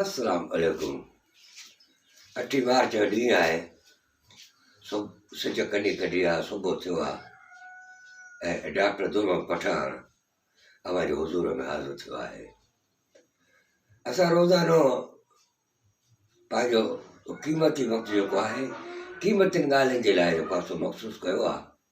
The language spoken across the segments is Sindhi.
السلام عليڪم اٺين مارچ جو ڏينهن آهي سج ڪني ڪڍي آ صبح ٿيو آ ۽ ڊاڪٽر درمحمد پٺاڻ اوهان جي حضور ۾ حاضر ٿيو آهي اسان روزانو پنهنجو قيمتي وقت جيڪو آهي قيمتين ڳالهين جي لاء جيڪو آهي سو مخصوص ڪيو آ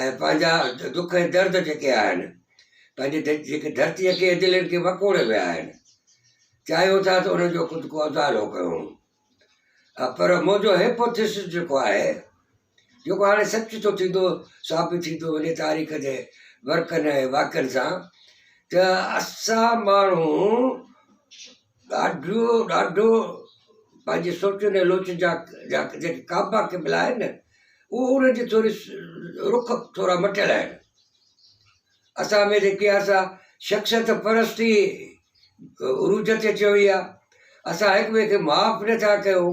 ۽ پنهنجا دک ۽ درد جيڪي آهن پنهنجي جيڪي ڌرتيء کي دلين کي وڪوڙي ويا آهن چاهيو ٿا ته انهن جو خود کو ازالو ڪيون پر منهنجو هيپوٿيسس جيڪو آهي جيڪو هاڻي سچ ٿو ٿيندو ثابت ٿيندو وڃي تاريخ جي ورقن ۽ واقعن سان ته اسان ماڻهو ڏاڍو ڏاڍو پنهنجي سوچن ۽ لوچن جا جا جيڪي ڪعبا قبلا آهن نه اهو ان جي ٿوري رخ ٿورا مٽيل آهن اسان ۾ جيڪي آ سا شخصيت پرستي عروج تي اچي وئي آ اسان هڪ ٻئي کي معاف نٿا ڪيون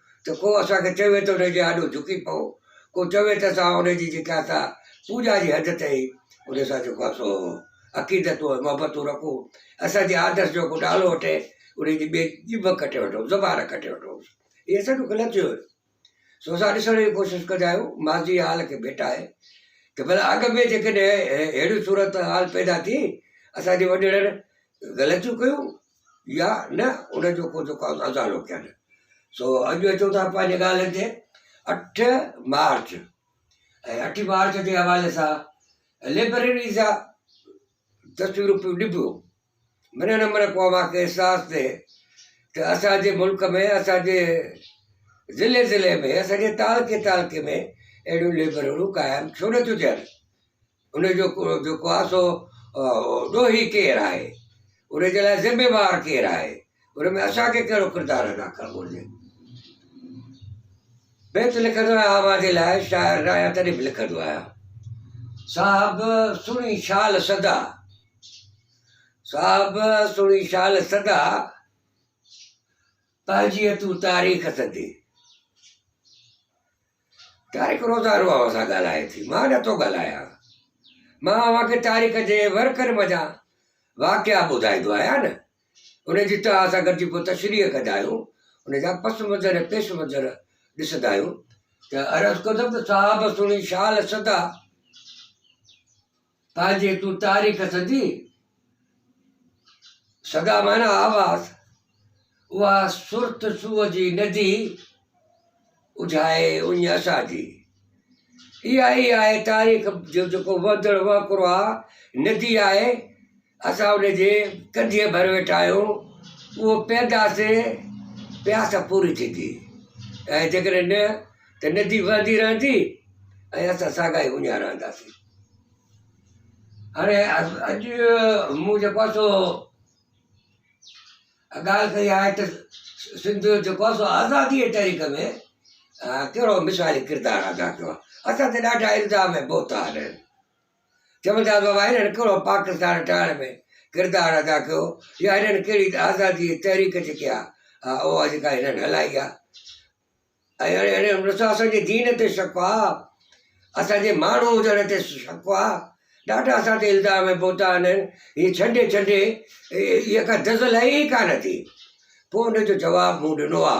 ته ڪو اسان کي چوي ته ان جي آڏو جهڪي پئو، ڪو چوي ته اسان ان جي جيڪا سا پوڄا جي حد تائين ان سان جيڪو آهي سو عقيدتون ۽ محبتون رکون، اسان جي آدرس جو ڪو نالو وٺي ان جي ٻئي ڄڀ ڪٽي وٺون، زبان ڪٽي وٺون. هي اسان جو غلط ٿيو آهي. سو اسان ڏسڻ جي ڪوشش ڪندا آهيون ماضي جي حال کي ڀيٽائي ته ڀلا اڳ ۾ جيڪڏهن اهڙيون صورت حال پيدا ٿي، اسان جي وڏيرن غلطيون ڪيون، يا نه ان جو ڪو جيڪو آهي ازالو ڪيل سو اڄ اچو ٿا پنهنجي ڳالهين تي اٺ مارچ ۽ اٺ مارچ جي حوالي سان ليبريري جا تصويرون پيون ڏبيو من نه من کو اوهانکي احساس ٿئي ته اسانجي ملڪ ۾ اسانجي ضلعي ضلعي ۾ اسانجي تعلقي تعلقي ۾ اهڙيون ليبريريون قائم ڇو نه ٿيون ٿين ان جو جيڪو آهي سو ڏوهي ڪير آهي ان جي لاء ذميوار ڪير آهي ان ۾ اسانکي ڪهڙو ڪردار ادا ڪرڻ گهرجي بيت لکندو آهيان اوهان جي لاء شاعر نه آهيان تڏهن به لکندو آهيان صاحب سڻي شال سدا صاحب سڻي شال سدا پنهنجي تون تاريخ سڌي طارق روزا اوهان سان ڳالهائي ٿي مان نه ٿو ڳالهايان مان اوهان کي طارق جي ورڪن منجهان واقعا ٻڌائيندو آهيان نه ان جي توهان سان گڏجي پوء تشريح ڪندا آهيون ان جا پس منظر ۽ پيش منظر ڏسندا آهيون ته عرض ڪندم ته صاحب سڻي شال سدا پاء جي تون تاريخ سڌي، سدا معنيٰ آواز، اها سرت سوء جي ندي، اجهائي اڃ اسان جي. اها ئي آهي تاريخ جو جيڪو وهندڙ وهڪرو آهي، ندي آهي، اسان ان جي ڪنڌيء ڀر ويٺا آهيون، اهو پيئنداسين، پياس پوري ٿيندي ۽ جيڪڏهن نه ته ندي وهندي رهندي ۽ اسان ساڳا ئي اڃا رهنداسين. هاڻي اڄ مون جيڪو آهي سو ڳالهه ڪئي آهي ته سنڌ جو جيڪو آهي سو آزاديء جي تحريڪ ۾ ڪهڙو مثالي ڪردار ادا ڪيو آهي. اسان تي ڏاڍا الزام ۽ بهتان آهن. چمنتاز بابا هنن ڪهڙو پاڪستان ٺاهڻ ۾ ڪردار ادا ڪيو يا هنن ڪهڙي آزادي جي تحريڪ جيڪي آ اها جيڪا هنن هلائي آ ۽ هنن هنن ڏسو اسان جي دين تي شڪ آ اسان جي ماڻهو هجڻ تي شڪ آ ڏاڍا اسان تي الزام ۽ بهتان آهن هي ڇنڊي ڇنڊي اها ڪا دزل آهي ئي ڪانه ٿي پوء ان جو جواب مون ڏنو آ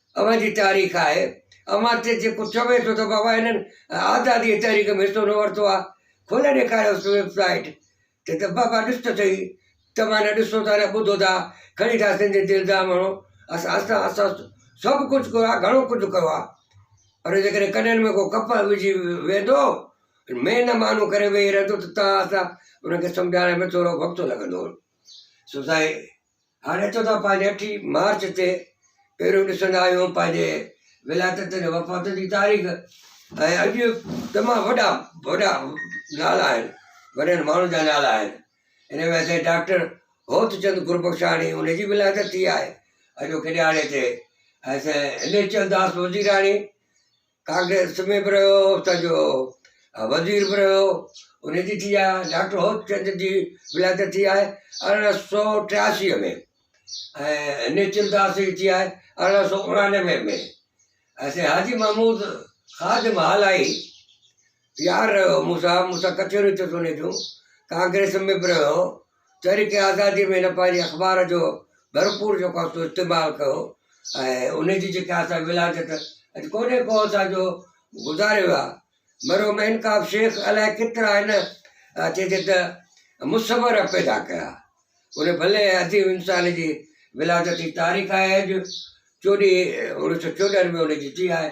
اوهان جي تاريخ آهي اوهان تي جيڪو چوي ٿو ته بابا هنن آزادي تحريڪ ۾ حصو نه ورتو آ کولي ڏيکاريوس ويب سائيٽ ته ته بابا ڏس ته سهي توهان نه ڏسو ٿا نه ٻڌو ٿا کڻي ٿا سنڌين تي الزام هڻو اسان اسان اسان سڀ ڪجهه ڪيو آ گهڻو ڪجهه ڪيو آ پر جيڪڏهن ڪنن ۾ ڪو ڪپهه وجهي ويندو مين نه مانو ڪري ويهي رهندو ته تان اسان انهن کي سمجهائڻ ۾ ٿورو وقت لڳندو سو سائين هاڻي اچو ٿا پنهنجي اٺين مارچ تي، پهريون ڏسندا آهيون پنهنجي ولايتن جي وفاتن جي تاريخ ۽ اڄ تمام وڏا وڏا نالا آهن وڏن ماڻهن جا نالا آهن ان ۾ اسين ڊاڪٽر هوت چند گربخشاڻي ان جي ولايت ٿي آهي اڄ هو ڪڏهاڙي تي اسين هيمچنداس وزيراڻي ڪانگريس ۾ به رهيو اتان جو وزير به رهيو انهي جي ٿي آهي ڊاڪٽر هوت چند جي ولادت ٿي آهي ارڙهن سو ٽياسي ۾ ۽ نيچل داس جي ٿي آهي ارڙهن سو اڻانوي ۾ ۽ سائين حاجي محمود خادم هالائي يار رهيو مون سان مون سان ڪچهريون ٿيس انهي جون ڪانگريس ۾ به رهيو تحريڪ آزادي ۾ هن پنهنجي اخبار جو ڀرپور جيڪو آهي سو استعمال ڪيو ۽ ان جي جيڪا آهي سا ولادت اڄ ڪونهي ڪو اسان جو گذاري ويا مرحوم انقاب شيخ الائي ڪيترا هن چئجي ته مصور پيدا ڪيا ان ڀلي عظيم انسان جي ولادت جي تاريخ آهي اڄ چوڏهين اڻويهه سو چوڏهن ۾ ان جي ٿي آهي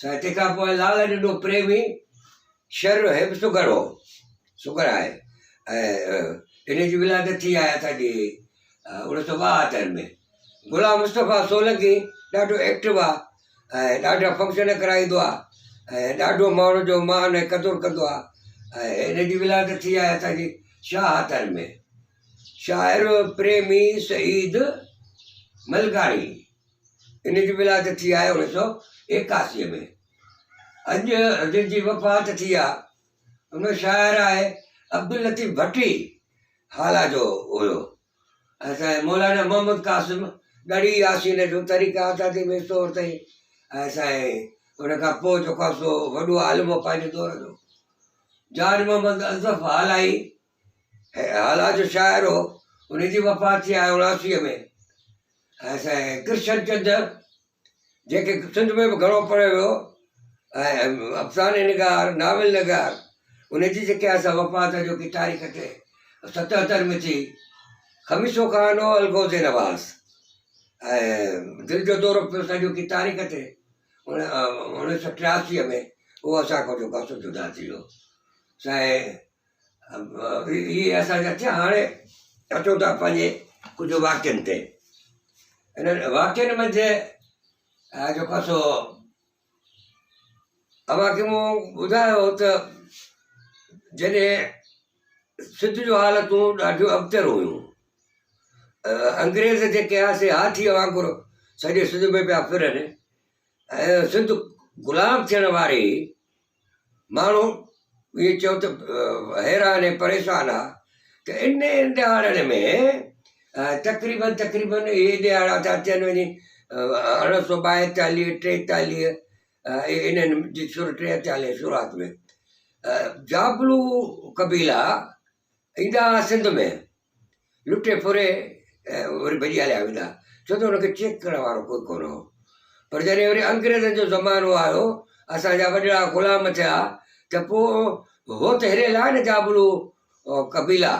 سائتي کان پوء لال جڏو پريمي شھر جو حب سگھر ھو سگھر آھي ۽ ان جي ولادت ٿي آھي اسان جي اوڻيھ سو ٻاھتر ۾ غلام مصطفيٰ سولنگي ڏاڍو ايڪٽو آھي ۽ ڏاڍا فنڪشن ڪرائيندو آھي ۽ ڏاڍو ماڻھون جو مان ۽ قدر ڪندو آھي ۽ ان جي ولادت ٿي آھي اسان جي شاھتر ۾ شاعر پريمي سعيد ملڪاڻي ان جي ولادت ٿي آهي انهن سؤ ايڪاسي ۾ اڄ جن جي وفات ٿي آ ان شاعر آهي عبداللطيف ڀٽي هالا جو هيو اسان مولانا محمد قاسم ڳڙهي ياسين جو طريقه آزادي ۾ سو تائين اسان ان کان پوء جو خاصو وڏو عالم هو پنهنجي دور جو جان محمد اضف هالائي هالا جو شاعر هو، ان جي وفات ٿي آهي اڻاسيء ۾. ۽ سائين ڪرشن چند جيڪي سنڌ ۾ به گهڻو پڙهيو ويو ۽ افسانه نگار ناول نگار ان جي جيڪي اسان وفات جو ڪي تاريخ تي ستهتر ۾ ٿي خميسو خان هو الغوزي نواز ۽ دل جو دورو پيو سا جو ڪي تاريخ تي انيس سو ٽياسي ۾ هو اسان کان جو ڪاسو جدا ٿي ويو سائين هي اسان جا ٿيا هاڻي اچو ٿا پنهنجي ڪجهه واقعن تي انهن واقعن ۾ جي جيڪو سو اوهان کي مون ٻڌايو ته جڏهن سج جون حالتون ڏاڍيون ابتر هيون انگريز جيڪي آ سي هاٿيء وانگر سڄي سنڌ ۾ پيا ڦرن سنڌ غلام ٿيڻ واري ماڻهو اهي چئو ته حيران ۽ پريشان آ ته انهن ڏهاڙن ۾ تقريبن تقريبن اهي ڏهاڙا ٿا اچن وڃي ارڙهن سو ٻائيتاليهه ٽيتاليهه انهن جي ٽيهه چاليهه جي شروعات ۾ جابلو قبيلا ايندا ها سنڌ ۾ لٽي ڦري وري ڀڄي هليا ويندا ڇو ته ان کي چيڪ ڪرڻ وارو ڪوئي ڪونه هو پر جڏهن وري انگريزن جو زمانو آيو اسان جا وڏڙا غلام ٿيا ته پوء هو ته هري لاء نه جابلو قبيلا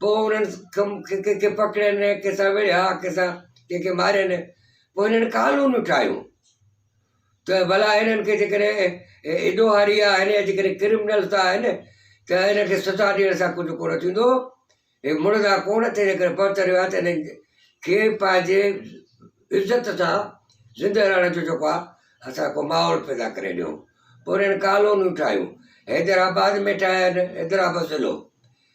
پوء انهن ڪنهن کي پڪڙين ڪنهن سان وڙهيا ڪنهن سان ڪنهن کي مارين پوء هنن قانونيون ٺاهيون ته ڀلا هنن کي جيڪڏهن ايڏو هاري آ هن جيڪڏهن ڪرمنل ته آهن ته هن کي سزا ڏيڻ سان ڪجهه ڪونه ٿيندو هي مڙدا ڪونه تنهنجي ڪري پهت رهيو آهي ته هنن کي پنهنجي عزت سان زندهه رهڻ جو جيڪو آهي اسان ڪو ماحول پيدا ڪري ڏيو پورين ڪالونيون ٺاهيون حيدرآباد ۾ ٺاهيا آهن حيدرآباد ضلعو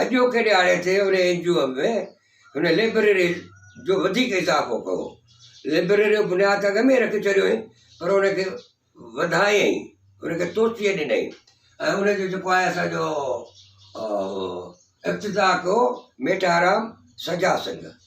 اڄوڪي ڏهاڙي تي هن اين جي او ۾ هن لئبرري جو وڌيڪ اضافو ڪيو. لئبرري جو بنياد ته اڳ ۾ ئي رکي ڇڏيو هئي پر ان کي وڌايائين، ان کي توسيع ڏنائين ۽ ان جو جيڪو آهي اسان جو افتتاح ڪيو ميٽارام سجا سنگهه.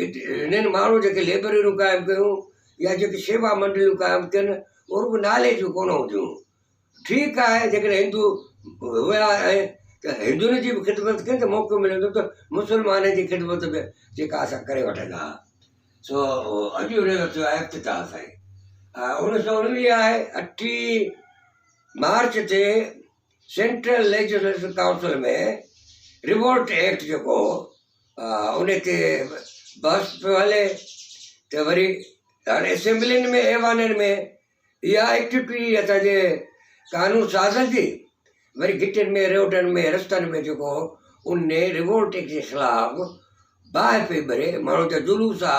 هنن ماڻهن جيڪي لئبرريون قائم ڪيون يا جيڪي شيوا منڊليون قائم ڪين هو رڳو نالي جون ڪونه هونديون هيون ٺيڪ آهي جيڪڏهن هندو هيا آهن ته هندن جي به خدمت ڪين ته موقعو ملندو ته مسلمان جي خدمت به جيڪا اسان ڪري وٺندا هيا سو اڄ جو ڏينهن اچيو آهي افتتاح سائين اڻيهه سو اڻويهه آهي اٺيهه مارچ تي central legislative council ۾ Rowlatt act جيڪو هو ان تي بحث پيو هلي ته وري هر اسيمبلين ۾ ايوانن ۾ اها ايڪٽ پي اسان جي قانون سازن جي وري گٽين ۾ روڊن ۾ رستن ۾ جيڪو ان ريوولٽ جي خلاف باهه پئي ٻري ماڻهو جا جلوس آ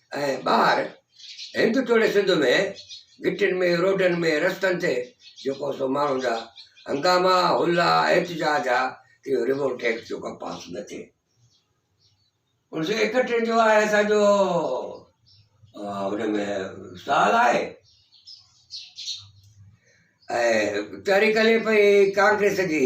۽ ٻاهر هند توڙي سنڌ ۾ گهٽين ۾ روڊن ۾ رستن تي جيڪو سو ماڻهن جا هنگاما هلا احتجاج ها اهو ريوولٽ ايڪٽ جو ڪا پاس نه ٿئي انهن سو ايڪٽين جو آهي اسان جو ان ۾ سال آهي تحريڪ هلي پئي ڪانگريس جي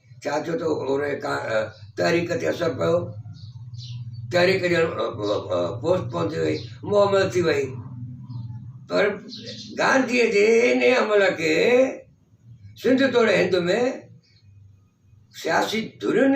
ڇا ٿيو ته انهيء تحريڪ تي اثر پيو. تحريڪ ڄڻ پوسٽ پون ٿي وئي، مهمل ٿي وئي. پر گانڌيء جي انهيء عمل کي سنڌ توڙي هند ۾ سياسي ڌرين،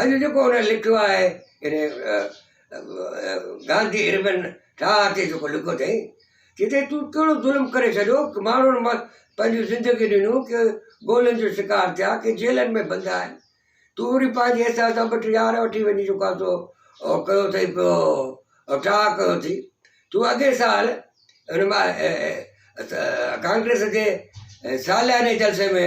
اڄ جيڪو هن لکيو آهي يعني گانڌي اربن ٺاهه تي جيڪو لکيو اٿئي جتي تون ڪهڙو ظلم ڪري ڇڏيو ڪي ماڻهن مان پنهنجون زندگيون ڏنيون ڪي گولين جو شڪار ٿيا ڪي جيلن ۾ بند آهن تون وري پنهنجي احساس سان ٻه ٽي يار وٺي وڃي جيڪو آهي سو او ڪيو اٿئي پيو ٺاهه ڪيو اٿئي تون اڳئي سال هن مان ڪانگريس جي سالياني جلسي ۾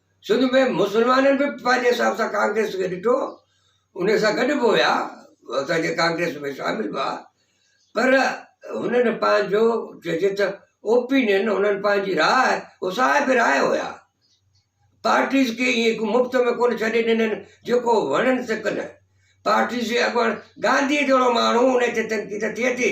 سنڌ ۾ مسلمانن به پنهنجي حساب سان ڪانگريس کي ڏٺو ان سان گڏ به هيا اسان جي ڪانگريس ۾ شامل به هئا پر هنن پنهنجو چئجي ته اوپينين هنن پنهنجي راء هو صاحب راء هيا پارٽيز کي ائين مفت ۾ ڪونه ڇڏي ڏنن جيڪو وڻن سڪن پارٽيز جي اڳواڻ گانڌي جهڙو ماڻهو ان تي تنقيد ٿئي ٿي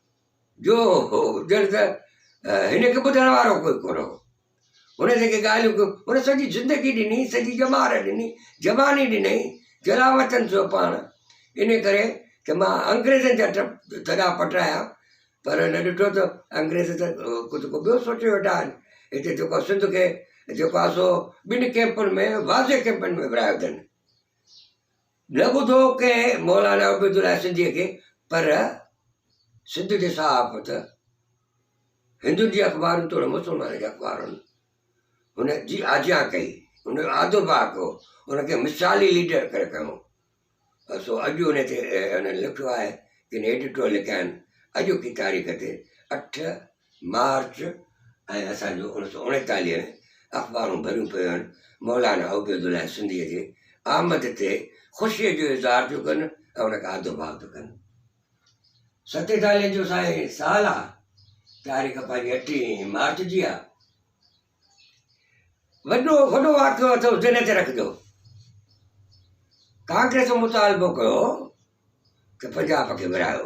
جو هو ڄڻ ته هن کي ٻڌڻ وارو ڪوئي ڪونه هو. هن جيڪي ڳالهيون ڪيون، هن سڄي زندگي ڏني، سڄي ڄمار ڏني، جواني ڏنائين، جلاوطن ٿيو پاڻ. ان ڪري ته مان انگريزن جا ٿڏا پٽرايا، پر هن ڏٺو ته انگريز ته ڪجهه ڪو ٻيو سوچي ويٺا آهن. هتي جيڪو سنڌ کي جيڪو آهي سو ٻن ڪئمپن ۾ واضح ڪئمپن ۾ ورهايو اٿن. نه ٻڌو ڪنهن مولانا عبيدالله سنڌيء کي پر سنڌ جي صحافت، هندن جي اخبارن توڙي مسلمانن جي اخبارن هن جي آجيان ڪئي، هن جو آدر ڀاء ڪيو، هن کي مثالي ليڊر ڪري کنيو. سو اڄ ان تي هنن لکيو آهي، ڪن ايڊيٽور لکيا آهن، اڄوڪي تاريخ تي اٺ مارچ ۽ اسان جون اوڻيھ سؤ اڻيتاليھ ۾ اخبارون ڀريون پيون آهن، مولانا عبيدالله سنڌيء جي آمد تي خوشيء جو اظهار ٿيون ڪن ۽ ان کي آڌو ڀاء ٿيون ڪن. ستيتاليھ جو سائين سال آهي، تاريخ پنهنجي اٺين مارچ جي آهي. وڏو وڏو واقعو اٿس دل تي رکجو. ڪانگريس مطالبو ڪيو ته پنجاب کي ورهايو.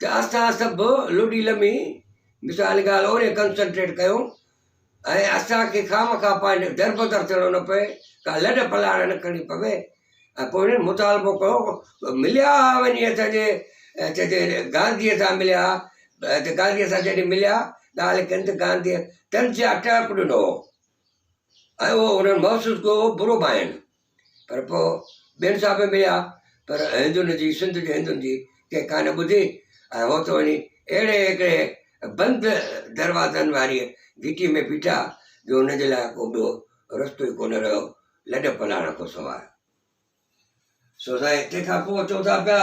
ته اسان سڀ لڏي لمي مثال ڳالهه اوري ڪنسنٽريٽ ڪيون ۽ اسانکي خامخواه پنهنجو دربدر ٿيڻو نه پئي ڪا لڏ پلاڻ نه کڻي پوي ۽ پوء هنن مطالبو ڪيو مليا هئا وڃي اسانجي چئجي گانڌيء سان مليا هئا ته گانڌيء سان جڏهن مليا ڳالهه ڪن ته گانڌيء طنزيه ٽهڪ ڏنو هو ۽ اهو هنن محسوس ڪيو هو برو ڀائين پر پوء ٻين سان به مليا، پر هندن جي، سنڌ جي هندن جي، ڪنهن ڪا نه ٻڌي ۽ هو ته وڃي اهڙي هڪڙي بند دروازن واريء گهٽيء ۾ بيٺا، جو هن جي لاء ڪو ٻيو رستو ئي ڪونه رهيو، لڏ پلاڻ کان سواء. سو سائين! تنهن کان پوء چئو ٿا پيا.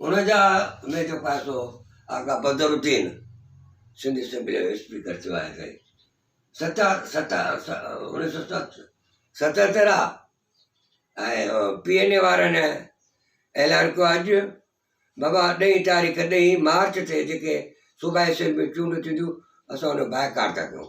ان جا ۾ جو پاسو آغا بدر الدين سنڌ اسيمبليء جو اسپيڪر ٿيو آهي سائين ست ست انيس سو ست ستهتر آ ۽ پي اين اي وارن اعلان ڪيو اڄ بابا ڏهين تاريخ ڏهين مارچ تي جيڪي صوبائي اسيمبليون چونڊون ٿينديون اسان ان جو بائڪاٽ ٿا ڪيون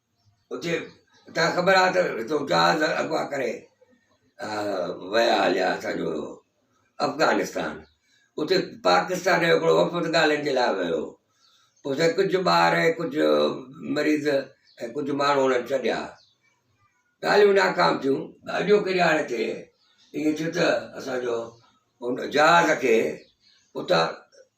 اتي تان کي خبر آهي ته هتو جهاز اغوا ڪري ويا هليا اسانجو افغانستان اتي پاڪستان جو هڪڙو وفد ڳالهين جي لاء ويو هو اتي ڪجهه ٻار ۽ ڪجهه مريض ۽ ڪجهه ماڻهو انهن ڇڏيا ڳالهيون ناڪام ٿيون اڄوڪي ڏهاڙي تي ائين ٿيو ته اسانجو ان جهاز کي اتان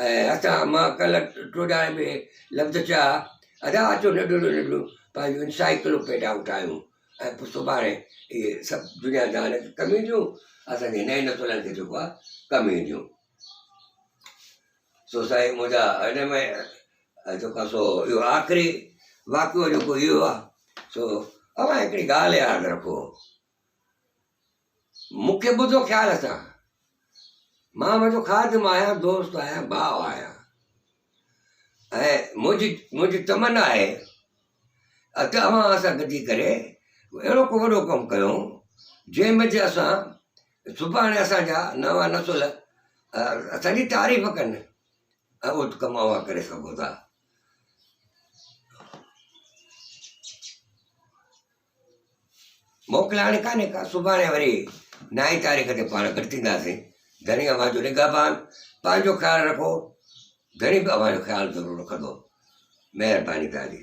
۽ هتان مان ڪلهه ٽوڏائي ۾ لفظ چيا، ادا اچو ننڍڙيون ننڍڙيون پنهنجون انسائيڪلوپيڊائون ٺاهيون ۽ پوء سڀاڻي اهي سڀ دنيا جهان کي ڪم اينديون، اسان جي نئين نسلن کي جيڪو آهي ڪم اينديون. سو سائين منهنجا هن ۾ جيڪو آهي سو اهو آخري واقعو جيڪو اهو آهي سو اوهان هڪڙي ڳالهه ياد رکو. مون کي ٻڌو خيال سان. مان ويٺو خادم آهيان، دوست آهيان، ڀاء آهيان. ۽ منهنجي منهنجي تمنا آهي ته اوهان اسان گڏجي ڪري اهڙو ڪو وڏو ڪم ڪيون جنهن ۾ جي اسان سڀاڻي اسان جا نوان نسل اسان جي تعريف ڪن ۽ اهو ڪم اوهان ڪري سگهو ٿا. موڪل هاڻي ڪانهي ڪا، سڀاڻي وري نائين تاريخ تي پاڻ گڏ ٿينداسين. ڌڻي اوهان جو نگهبان، پنهنجو خيال رکو، ڌڻي به اوهان جو خيال ضرور رکندو. مهرباني تهانجي.